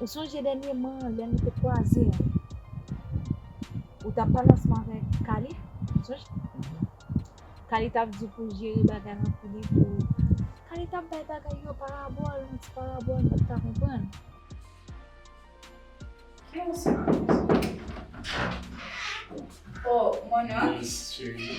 Ou sonje dènyeman lè nou te kwaze an, ou t ap pale ansanm avèk Kali, ou sonje? Kali t ap di w pou w jere bagay lan pou li pou, Kali t ap bay bagay yo parabòl, yon ti parabòl nou pa t ka konprann. Ki ou sa? O, Mona. Wi, cheri.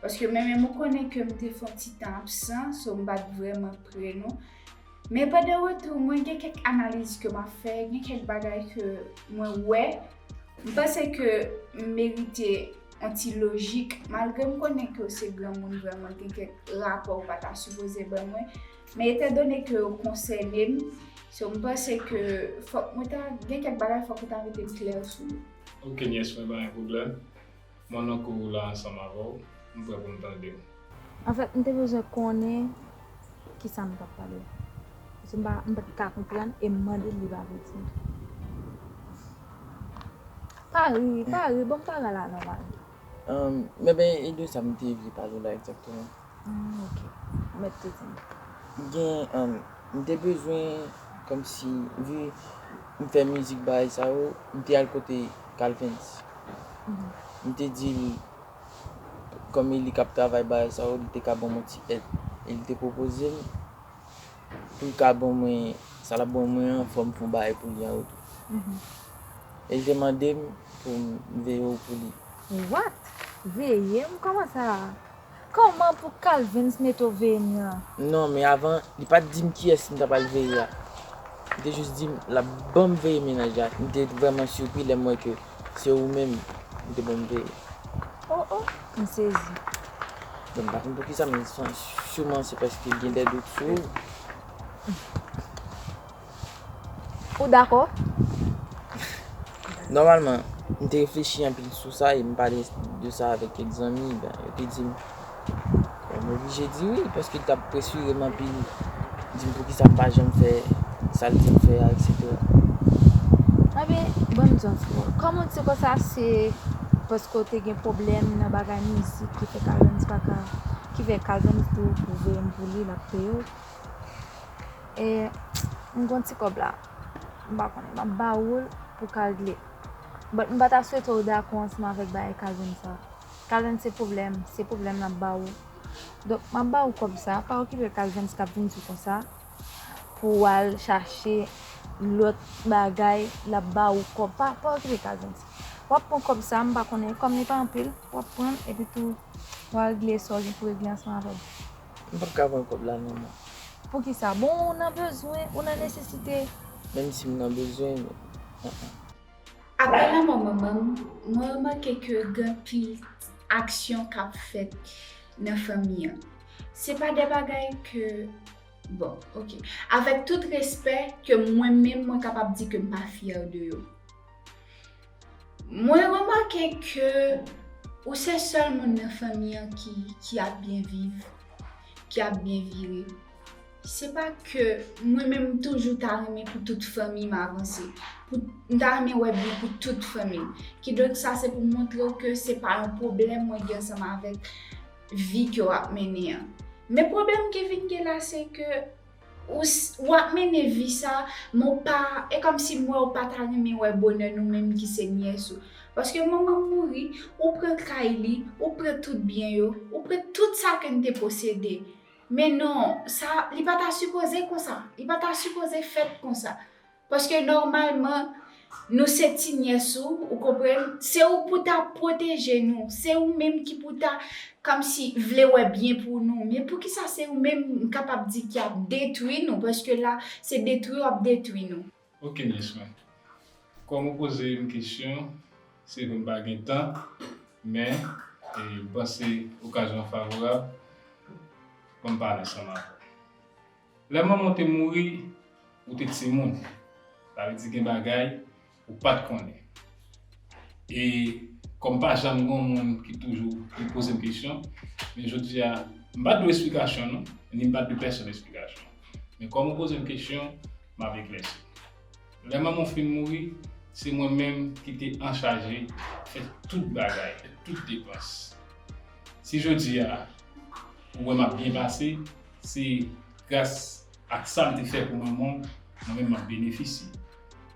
Paske mwen menm ou konnen ke m te fon ti tan absan, so m pat vrèman pre nou. Men pa de retou mwen gen kèk analiz ke m ap fè, gen kèk bagay ke mwen wè, m panse ke m merite yon ti lojik, malgre m konnen ke w se granmoun vrèman gen kèk rapò ou pa ta sipoze ban mwen, men etan done ke yo konsène m, so m panse ke fòk mwen ta gen kèk bagay fòk ou ta mete klè sou yo. Ok nyès mwen pa gen pwoblèm. Mwen nan kou ou la ansanm avè w, m prè pou m tande w. Anfèt, m te bezwen konnen ki sa nou t ap pale a. Paske m pa t ka konprann e m mande l li pa vle di m tou. Pa ri, pa ri, bon m pa rale a nòmal. Enben, e de sa m te vle pale w la egzakteman? Hum ok. Ou met te di. Gen um, m te bezwen kom si vi m fè mizik bagay sa yo, m te al kote Calvins. M te di li kom e li kap travay bagay sa yo, li te ka ban mwen ti èd. E li te pwopoze m pou l ka ban mwen sa l ap ban mwen an, fò m fon bagay pou li an retou. E li te mande m pou m veye w pou li. What? Veye m? Koman sa? Koman pou Calvins Neto veye m nan? Non, men avan, li pa t di m kiyès m ta pral veye a. Li te jis di m l ap ban m veye mennaj la. M te vrèman sirpri lè m wè ke se ou menm li te ban m veye. O o! M sezi. Bon, m pa konn poukisa, men souman se paske gen dè dout sou ou. Ou dakò? Nòmalman, m te reflechi anpil sou sa e m pale de sa avèk kèk zanmi. Yo te di m, m oblije di wi, paske l t ap presire m anpil, di m poukisa m pa janm fè sa l di m fè a, eksetera. Anben, ban m di yon ti mo. Kòm ou di konsa, se paske w te gen pwoblèm nan bagay mizik ki fè Calvens pa ka, ki fè Calvens di w pou w voye m pou li, l ap peye w? E m gon ti kòb la. M pa konnen. M ap ba ou l pou kal gle. But m pa ta swete w dakò ansanm avèk bagay Kazen sa. Kazen se pwoblèm. Se pwoblèm l ap ba ou. Donk m ap ba ou kòb sa. Pa okipe Kazen s k ap vin di w konsa. Pou w al chache lòt bagay. L ap ba ou kòb. Pa okipe Kazen s. W ap pran kòb sa. M pa konnen. Kòm li pa anpil. W ap pran l. Epitou w al gle sa w gen pou regle ansanm avè l. M pap ka pran kob la non mwen. Poukisa? Bon ou nan bezwen, ou nan nesesite. Menm si m nan bezwen yo, an an. Aprè lanmò manman m, mwen remake ke gen pil aksyon k ap fèt nan fanmi an. Se pa de bagay ke, bon ok, avèk tout respè, ke mwen menm mwen kapab di ke m pa fyè de yo. Mwen remake ke ou se sèl moun nan fanmi an ki ap byen viv, ki ap byen vire. Se pa ke mwen menm m toujou ta renmen pou tout fanmi m avanse. M ta renmen wè byen pou tout fanmi m. Kidonk sa se pou m montre w ke se pa yon pwoblèm mwen gen ansanm avèk vi ke w ap mennen an. Men pwoblèm ki vin gen la se ke. Ou ap mennen vi sa, men ou pa, e kòmsi m wè ou pa ta renmen wè bonè nou menm ki se nyès ou. Paske manman m mouri, ou pran kay li, ou pran tout byen yo, ou pran tout sa ke n te posede. Men non, sa, li pa ta sipoze konsa. Li pa ta sipoze fèt konsa. Paske nòmalman nou se ti nyès ou, ou konprann, se ou pou ta pwoteje nou, se ou menm ki pou ta kòmsi vle wè byen pou nou. Men poukisa se ou menm m kapab di ki ap detwi nou paske la se detwi w ap detwi nou. Ok nyès mwen. Kòm ou poze m kesyon, se vre m pa gen tan men m panse okazyon an favorab pou m pale ansanm avè w. Lè manman w te mouri, ou te timoun. Sa vle di gen bagay ou pa t konnen. E kòm pa janm gen yon moun ki toujou vin poze m kesyon, men jodi a m pa t dwe esplikasyon non, ni m pa t dwe pèsonn esplikasyon. Men kòm ou poze m kesyon, m ap eklèsi. Lè manman w fin mouri, se mwen menm ki te anchaje fè tout bagay, fè tout depans. Si jodi a ou wè m ap byen pase, Se gras ak sa l te fè pou manman w mwen menm m ap benefisye.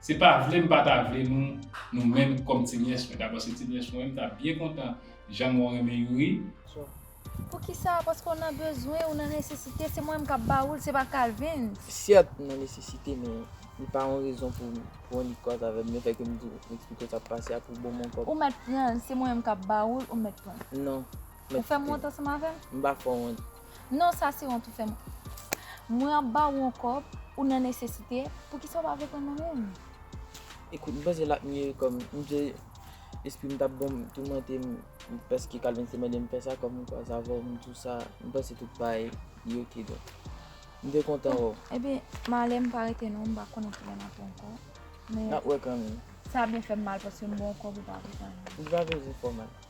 Se pa vle m pa ta vle nou nou menm kòm ti nyès mwen. Dabò se ti nyès mwen m ta byen kontan jan mwen renmen Youri. Djo, Poukisa? Paske w nan bezwen, w nan nesesite, se mwen m k ap ba ou l, se pa Kalvin. Syèt m nan nesesite men li pa yon rezon pou w annik kòz avè m lefè ke m di w m eksplike w sa k pase a pou bon mwen kòm. Ou mèt pran l, se mwen menm k ap ba ou l, ou mèt pran l. Non. Ou fèm wont ansanm avèm? M pa fè w wont. Non sa se wont ou fèm. Mwen ap ba ou yon kòb, ou nan nesesite, poukisa ou pa vle pran mwen menm? Ekout, m panse l ap mye kòm, m panse lespri m t ap bon m, toumante m paske Calvens te mande m fè sa kòm m kwaze avè w, m tou sa, m panse tout bagay li ok donk. M te kontan wè w. Ebyen, m ale m pa rete non, m pa konnen kilè n ap wè ankò. N ap wè kanmenm. Sa ap byen fè m mal paske m ba w yon kòb ou pa vle pran l. Li pa bezwen fè w mal.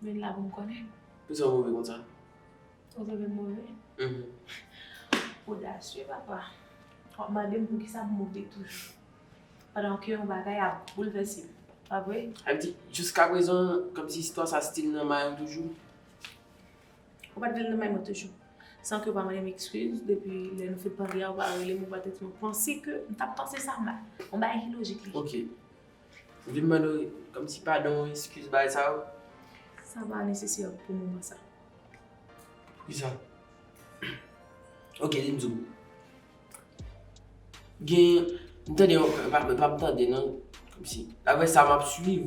Mwen la pou m konnen. Pou sa w move konsa? Ou te vle m move? Ou odasye papa. W ap mande m pou ki sa m move toujou. Pandan ke yon bagay ap boulvèse m. Pa vre? Sa vle di, jiska prezan, kòm si istwa sa stil nan may ou toujou? Ou pa t vle l nan may mwen toujou. San ke w pa mande m ekskiz, depi lè nou fin pale a, ou pa rele m, ou pa tèt m. Ou panse ke m t ap panse sa mal. Yon bagay ki lojik li. Ok. Ou vin mande yon ti padon, eskiz, bagay sa yo? Sa pa nesesè pou moman sa. Poukisa? Ok, li m di w. Gen, m tande yon, e pa m tande nan, kòm si, daprè sa m ap suiv,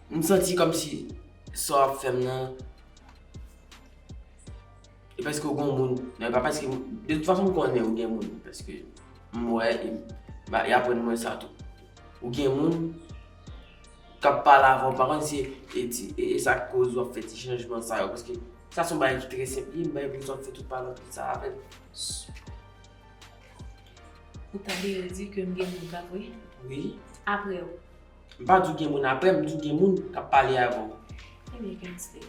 m santi kòm si sa w ap fè m nan. E paske ou gon moun, nan e pa paske m, de tout fason m konnen ou gen moun paske m wè e ba y aprann mwen sa tou. Ou gen moun k ap pale avè w, m pa konn si e ti e sa k koz w ap fè ti chanjman sa yo paske sa s on bagay ki trè senp li, m bay pou sa w ap fè tout pale anpil sa avè l. Ou ta vle di ke m gen moun k ap wè? Wi. Apre w? M pa di w gen moun apre m, m di w gen moun k ap pale avè w. Ebyen kèm stil.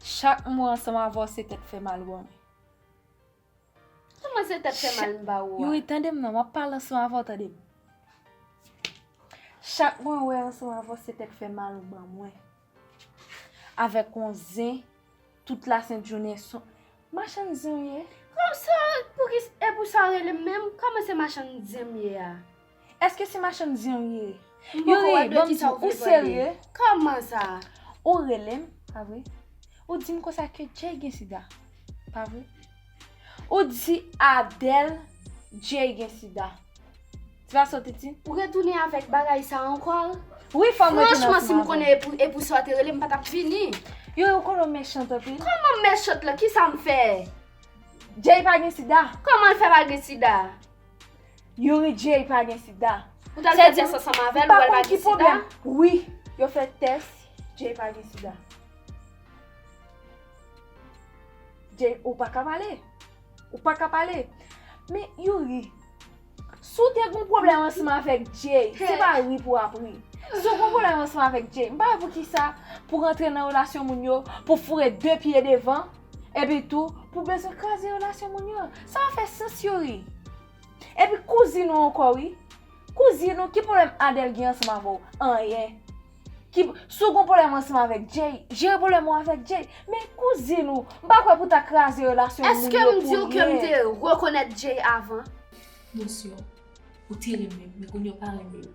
Chak mwen ansanm avè w se tèt fè mal ou ban mwen. Sa mwen se tèt fè mal m ba ou a? Youri tande m nan, m ap pale ansanm avè w tande m. Chak mwen wè ansanm avè w se tèt fè mal ou ban mwen. Avèk yon zen tout lasent jounen son Machann zen w ye? Konsa pouki e pou sa w rele m menm? Kòman se machann zen m ye a? Eske se machann zen w ye? M poko wè de kisa w vle pale. Kòman sa? Ou rele m, pa vre? Ou di m konsa ke Jay gen sida, pa vre? Ou di Adèl Jay gen sida. Ti va soti ti. Ou retounen avèk bagay sa ankor? Wi fòm retounen avèk. Franchman si m konnen e pou sa ou te rele m pa tap vini. Yow ou konnen ou mechant anpil. Kòman m mechant la ki sa m fè? Jay pa gen sida. Kòman l fè pa gen sida? Youri Jay pa gen sida. Ou ta fè tès ansanm avèl ou wèl pa gen sida? Wi yo fè tès Jay pa gen sida. Jay ou pa ka pale. Ou pa ka pale. Men Youri. Si w te gon pwoblèm ansanm avèk Jay, se pa ri pou w ap ri. Si w gon pwoblèm ansanm avèk Jay, m pa wè poukisa pou w rantre nan relasyon moun yo, pou w foure 2 pye devan, epi tou pou w bezwen kraze relasyon moun yo. Sa pa fè sans Youri. Epi kouzin ou ankò wi. Kouzin ou, ki pwoblèm Adèl gen ansanm avè w? Anyen. Ki, si w gon pwoblèm ansanm avèk Jay, jere pwoblèm ou avèk Jay. Men kouzin ou, m pa kwè pou w ta kraze relasyon moun yo pou ryen. Èske m di w ke m te rekonèt Jay avan? Non sè, ou te renmen l, men kounye a w pa renmen l.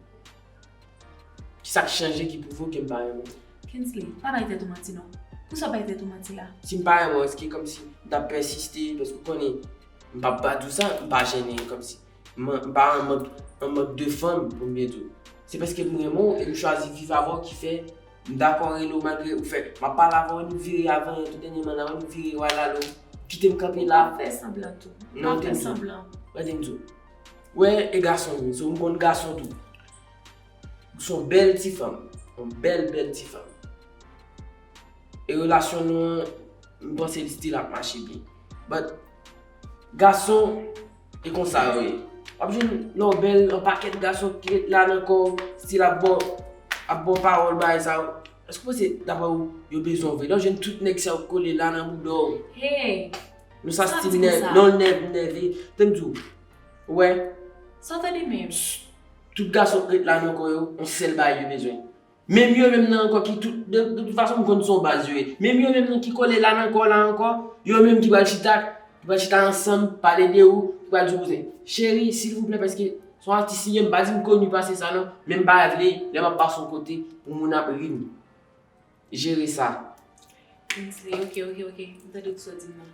Ki sa k chanje ki pwouve w ke m pa renmen l? Kingsley, pa bay tèt ou manti non. Pou sa w bay tèt ou manti la? Si m pa renmen w, èske kòmsi m t ap pèsiste, paske w konnen m p ap bat ou sa, m pa jennen kòmsi. M pa an mank an mank de fanm pou m met ou. Se paske m renmen w e m chwazi viv avè w ki fè m dakò rele w malgre ou fè m ap pale avè w e nou vire avè yon tou dènyèman la wè nou vire yo al ale w kite m kanpe la. Pa fè sanblan tou. Pa fè sanblan. Gade m di w. Ou wè e gason m ye so m konn gason tou. Ou s on bèl ti fanm. On bèl bèl ti fanm. E relasyon nou an m panse l still ap mache byen. But gason. E konsa yo ye. Wap jwenn lè w bèl yon pakèt gason ki ret la nan kò w, stil ap ba w ap ba w pawòl bagay sa yo. Èske w panse daprè ou yo bezwen w vre? Lè w jwenn tout nèg sa yo kole la nan bouda w. Hey! Nou sa stil nèg, lè w nèg ou nève. Tande m di w, ou wè. Sa w tande menm? Tout gason k ret la nan kò yo, yon sèl bagay yo bezwen. Menm yo menm nan ankò ki tout, de tout fason m konn se yon baz yo ye. Menm yo menm nan ki kole la nan kò w la ankò, yo menm ki pral chita, ki pral chita ansanm, pale de ou, ki pral di w bouzen. Cheri, silvouplè paske se yon atis li ye, m pa di m koni pase sa non, men m pa vle lè m ap pase yon kote pou moun ap ri m. Jere sa. Kingsley, ok, ok, ok, m tande tout sa w di m nan.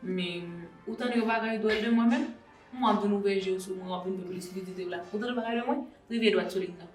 Men, ou tande yon bagay dwòl de mwen menm? M wè w ap vin ouvè je w sou mwen, w ap vin vin plis lizite w la. Ou tande yon bagay de mwen? Rive dwat sou lig nan.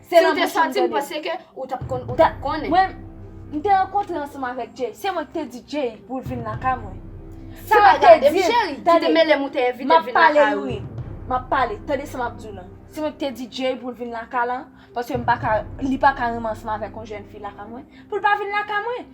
Se nan bouch ou m tande. Mwen, m te rankontre ansanm avèk Jay. Se mwen ki te di Jay pou l vin lakay mwen. Se mwen ki te di l. Tande, m ap pale nou wi. M ap pale. Tande sa m ap di w la. Se mwen ki te di Jay pou l vin lakay la. Paske m pa ka, li pa ka renmen ansanm avèk yon jèn fi lakay mwen. Pou l pa vin lakay mwen.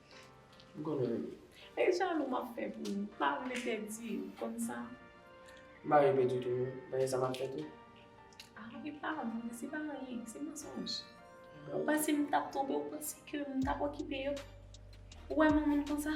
M konnen li. E jalou m ap fè pou ou. M pa vle pèdi ou, ou konn sa. M pa vle pèdi w tou non. Mwen gen sa m ap fè tou. A e pa vre, se pa anyen, se mansonj. Ou panse m t ap twonpe w, ou panse ke m t ap okipe yo. Ou wè m yon moun konsa?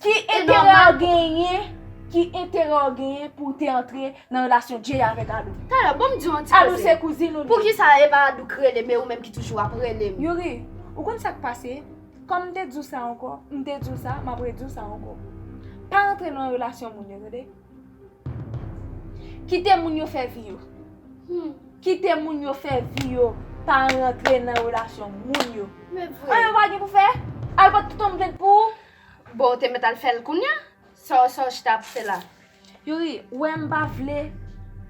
Ki enterè w genyen Ki enterè w genyen pou w te antre nan relasyon Jay avèk Alou? Tara, banm diw yon ti koze. Alou se kouzin ou li. Poukisa e pa Alou k rele m e ou menm ki toujou ap rele m? Youri, ou konn sa k pase? Kòm m te di w sa ankò, m te di w sa, m ap redi w sa ankò. Pa rantre nan relasyon moun yo tande. Kite moun yo fè vi yo. Kite moun yo fè vi yo. Pa rantre nan relasyon moun yo. Men vre. An yo pa gen pou fè? Alou pa t toutan vent pou ou? Bon ou te met al fel kounya? Saw saw chita ap fe la? Youri, ou wè m pa vle,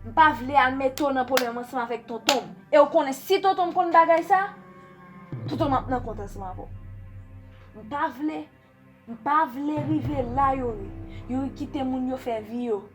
m pa vle al mete w nan pwoblèm ansanm avèk tonton m. E w konnen si tonton m konn bagay sa, tonton m ap nan kont ansanm avè w. M pa vle, m pa vle rive la Youri. Youri kite moun yo fè vi yo.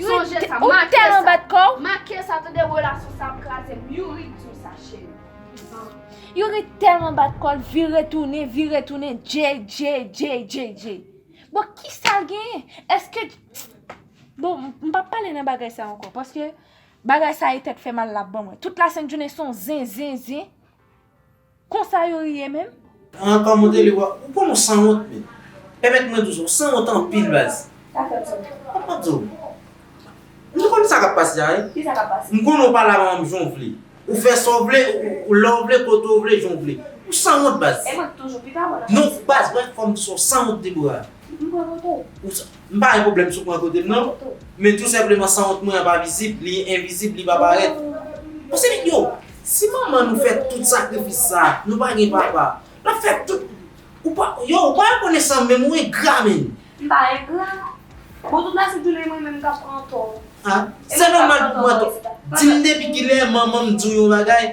Sonje sa make sa Make sa tande relasyon sa ap kraze m Youri diw sa cheri Youri tèlman bat kòl vire tounen vire tounen JJJJJ Bon kisal genyen eske Bon m pap pale nan bagay sa ankò paske bagay sa e tèt fè mal lap ban mwen tout la sent jounen son zen zen zen. Konsa yo ri ye menm? An kòman w rele w a ou konn ou sanwont menn pèmèt mwen di w sa ou sanwont anpil baz. Sa fè w sanwont? Sa fè m sanwont. M konn sa k ap pase a wi. Ki sa k ap pase? M konnen w pale ak manman m jan w vle. Ou fè sa w vle, lè w vle, kote w vle, jan w vle. Ou sanwont baz. E mwen k toujou pi pa bon nan sa. Non baz mwen fè w konn sa w sanwont Deborah. M pran poto w. M pa gen pwoblèm sou pwen kote m nan, men tou senpleman sanwont mwen an pa vizib, li envizib, li pa parèt. Bon se nèg yo, si manman nou fè tout sakrifis sa, nou pa gen papa, l ap fè tout, ou pa, yow ou pa rekonesan menm, ou engra menn. M pa engra. Bon tout la se toule mwen menm k ap pran tò. A, se nòmal pou m pran tò. Di m depi kilè manman m di w yon bagay,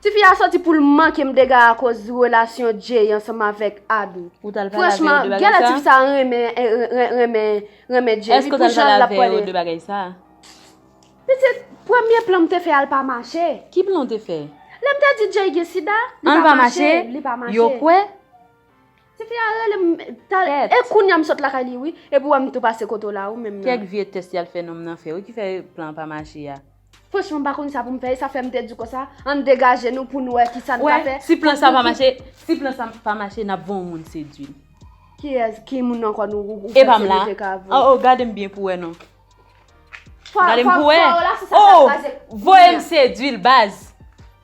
Tifi a soti poul mankem dega akoz relasyon Jay ansanm avèk Aby franchman genlè tifi sa renmen renmen Jay wi pou janl lap pwale pitit premye plan mte fè al pa mache lèm te di Jay gen sida li pa mache yo kwè. Tifi a rele m talè e kounya m sot lakay li wi epi wè m tou pase kote w la ou menm nan. Kèk vye tès yal fè nonm nan fè wi ki fè plan an pa mache a. Franchman m pa konn sa pou m fè e sa fè m te di konsa ann degaje nou pou n wè ki sa n ka fè. Si plan sa pa mache si plan sa pa mache n ap van yon moun sedwi l. Kiyès ki moun ankò nou ou panse nou te ka van. E pa m la oo gade m byen pou wè non. Gade m pou wè oo voye m sedwi l baz.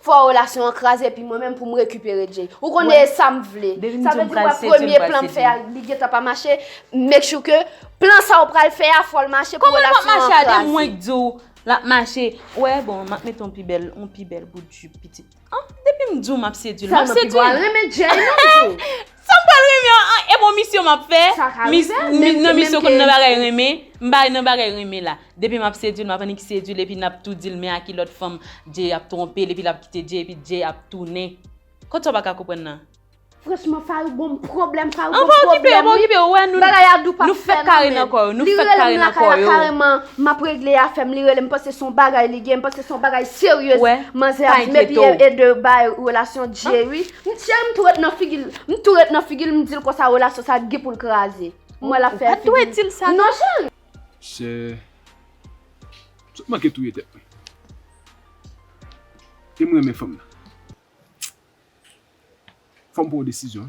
Fò relasyon an kraze epi mwen menm pou m rekipere Jay. Ou konnen e sa m vle. Sa vle di wè premye plan m fè a li gentan pa mache, make sure ke plan sa ou pral fè a fò l mache pou relasyon an kraze. Kòman l pa mache a de mwen k di w l ap mache. Wè bon m ap mete yon pi bèl, yon pi bèl bout jupe pitit. An depi m di w m ap sedui l, m ap sedui l. Sa m pi pral renmen Jay non m di w. Sa m pral renmen an e bon misyon m ap fè nan misyon kon nan bagay renmen m bay nan bagay renmen la depi m ap sedui l m ap annik sedui l epi n ap tou di l men a ki lòt fanm Jay ap twonpe l epi l ap kite Jay epi Jay ap tounen kot sa w pa ka konprann nan Franchman Farouk gon pwoblèm Farouk gon pwoblèm wi bagay a dou pa fè nan men l li rele m lakay la kareman m ap regle afè m li rele m panse son bagay li gen m panse son bagay seryez manzè ap di m epi e de bay relasyon Jay wi. M cheri m tou ret nan figil m tou ret nan figil m dil konsa relasyon sa gen poul kraze m wè lap fè figi ou pat dwe dil sa non cheri. Sè Sa w manke touye tèt mwen e m renmen fanm nan fòm pran yon desizyon